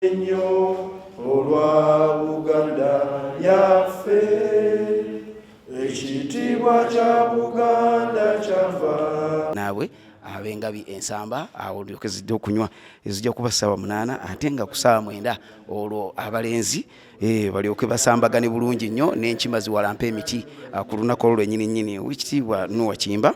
ennyo olwa buganda yaffe ekitiibwa kya buganda kyava naabwe abengabi ensamba awo lyoke zijja okunywa ezijja kuba ssaawa munaana ate nga ku ssaawa mwenda olwo abalenzi eh, balyoke basambagane bulungi nnyo n'enkima ziwalampa emiti ah, ku lunaku olwo lwenyini nyini owekitiibwa nuwa kimba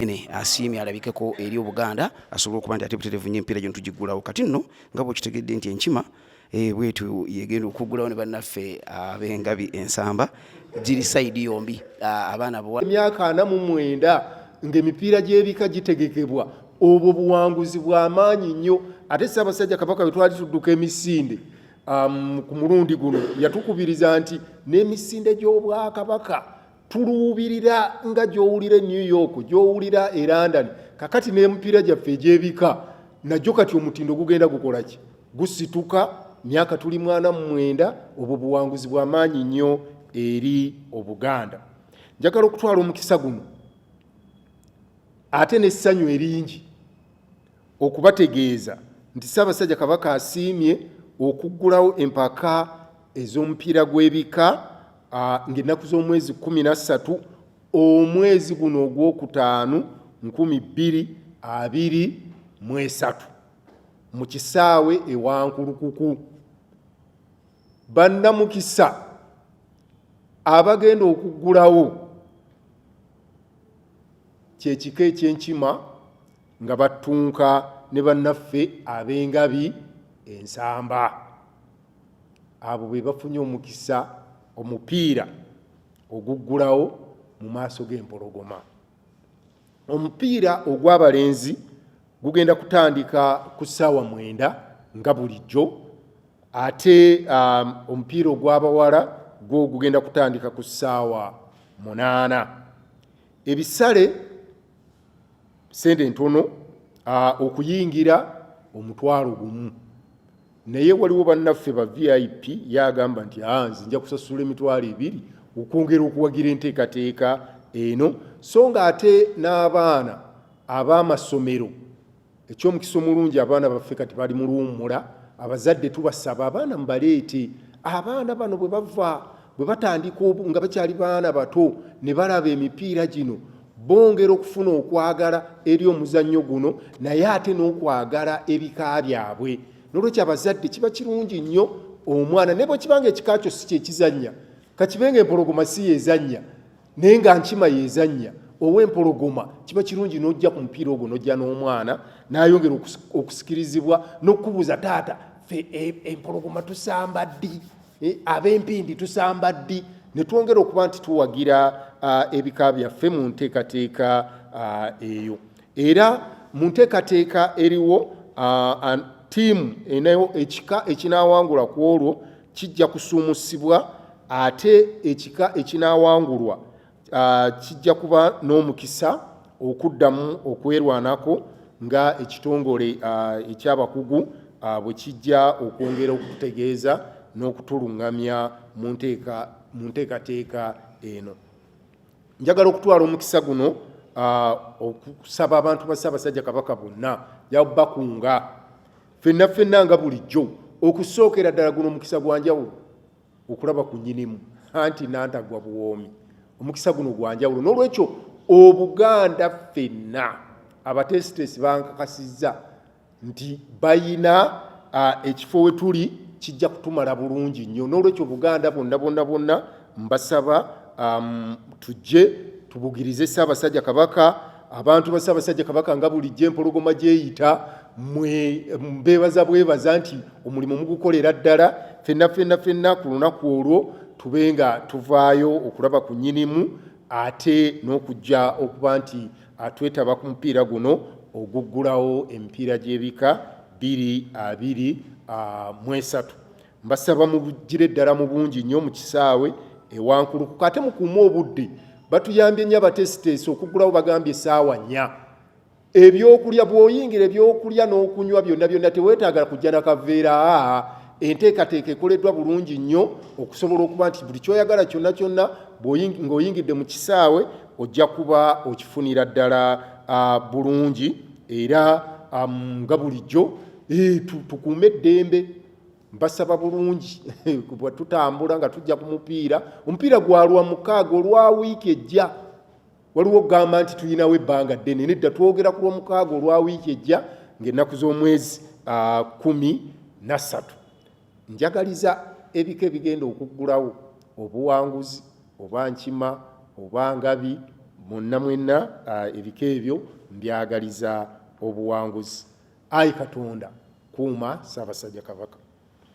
ene asiimye alabikeko eri obuganda asobole okuba nti ate buterevu nyo empiira gino tugiggulawo kati nno nga bwekitegedde nti enkima eh, bwetyo yegenda okuggulawo ne bannaffe abengabi ensamba giri sayidi yombi ah, abaana bwa emyaka ana mu mwenda ng'emipiira gy'ebika gitegekebwa obwo buwanguzi bw'amaanyi nnyo ate ssaabasajja kabaka bwe twali tudduka emisinde um, ku mulundi guno yatukubiriza nti n'emisinde gy'obwakabaka tuluubirira nga gy'owulira e new york gy'owulira e london kakati n'emipiira gyaffe egy'ebika nagyo kati omutindo gugenda gukola ki gusituka myaka tuli mwana mumwenda obwo buwanguzi bwa maanyi nnyo eri obuganda njagala okutwala omukisa guno ate n'essanyu eringi okubategeeza nti Ssaabasajja Kabaka asiimye okuggulawo empaka ez'omupiira gw'ebika ng'ennaku z'omwezi kumi na ssatu omwezi guno ogwokutaano nkumi bbiri abiri mu esatu mu kisaawe ewankulukuku bannamukisa abagenda okuggulawo kyekika ekyenkima nga battunka ne bannaffe ab'engabi ensamba abo be bafunye omukisa omupiira oguggulawo mu maaso g'empologoma omupiira ogw'abalenzi gugenda kutandika ku ssaawa mwenda nga bulijjo ate um, omupiira ogw'abawala gwo gugenda kutandika ku ssaawa munaana ebisale sente ntono okuyingira omutwalo gumu naye waliwo bannaffe ba vip yagamba nti ah, nze nja kusasula emitwalo ebiri okwongera okuwagira enteekateeka eno so nga ate n'abaana ab'amasomero ekyomukisa omulungi abaana baffe kati bali mu luwummula abazadde tubasaba abaana mubaleete abaana bano bwe bava bwe batandika nga bakyali baana bato ne balaba emipiira gino bongera okufuna okwagala eri omuzannyo guno naye ate n'okwagala ebika byabwe nolwekyo abazadde kiba kirungi nnyo omwana ne bwekibanga ekika kyo si kyekizannya kakibenga empologoma si yezannya naye nga nkima yezannya owempologoma kiba kirungi n'ojja ku mupiira ogwo n'ojja n'omwana n'ayongera okusikirizibwa n'okukubuuza taata fe e, empologoma tusamba ddi Eh, ab'empindi tusamba ddi ne twongera okuba nti tuwagira ah, ebika byaffe mu nteekateeka ah, eyo era mu nteekateeka eriwo ah, tiimu enayo ekika ekinaawangula ku olwo kijja kusuumusibwa ate ekika ekinaawangulwa Ah, kijja kuba n'omukisa okuddamu okwerwanako nga ekitongole ah, ekyabakugu ah, bwe kijja okwongera okututegeeza n'okutuluŋŋamya mu nteekateeka eno njagala okutwala omukisa guno okusaba abantu ba ssaabasajja kabaka bonna yabakunga fenna fenna nga bulijjo okusookera ddala guno omukisa gwa njawulo okulaba ku nyinimu anti nantagwa buwoomi omukisa guno gwanjawulo n'olwekyo obuganda ffenna abateesiteesi bankakasizza nti bayina ekifo we tuli kijja kutumala bulungi nnyo n'olwekyo obuganda bonna bonna bonna mbasaba tujje tubugirize ssaabasajja kabaka abantu ba Ssaabasajja Kabaka nga bulijjo empologoma gyeyita mwe mbeebaza bwebaza nti omulimu mugukolera ddala fenna fenna fenna ku lunaku olwo tube nga tuvaayo okulaba ku nyinimu ate n'okujja okuba nti atwetaba ku mupiira guno oguggulawo emipiira gy'ebika bbiri abiri mwesatu mbasaba mubugire ddala mu bungi nnyo mu kisaawe ewankulukuka ate mukuume obudde batuyambye nnyo abateesiteesi okugulawo bagambye esaawa nnya ebyokulya bwoyingira ebyokulya n'okunywa byonna byonna teweetaagala kujja na kaveera aa enteekateeka ekoleddwa bulungi nnyo okusobola okuba nti buli kyoyagala kyonna kyonna ng'oyingidde mu kisaawe ojja kuba okifunira ddala bulungi era nga bulijjo eh, tukuume eddembe mbasaba bulungi bwe tutambula nga tujja ku mupiira omupiira gwalwa mukaaga olwa wiiki ejja waliwo okugamba nti tulinawo ebbanga ddene nedda twogera ku lwomukaaga olwa wiiki ejja ngaennaku z'omwezi ah, kumi nassatu njagaliza ebika ebigenda okuggulawo obuwanguzi oba nkima oba ngabi mwonna mwenna ah, ebika ebyo mbyagaliza obuwanguzi. Ayi Katonda kuuma Ssaabasajja Kabaka.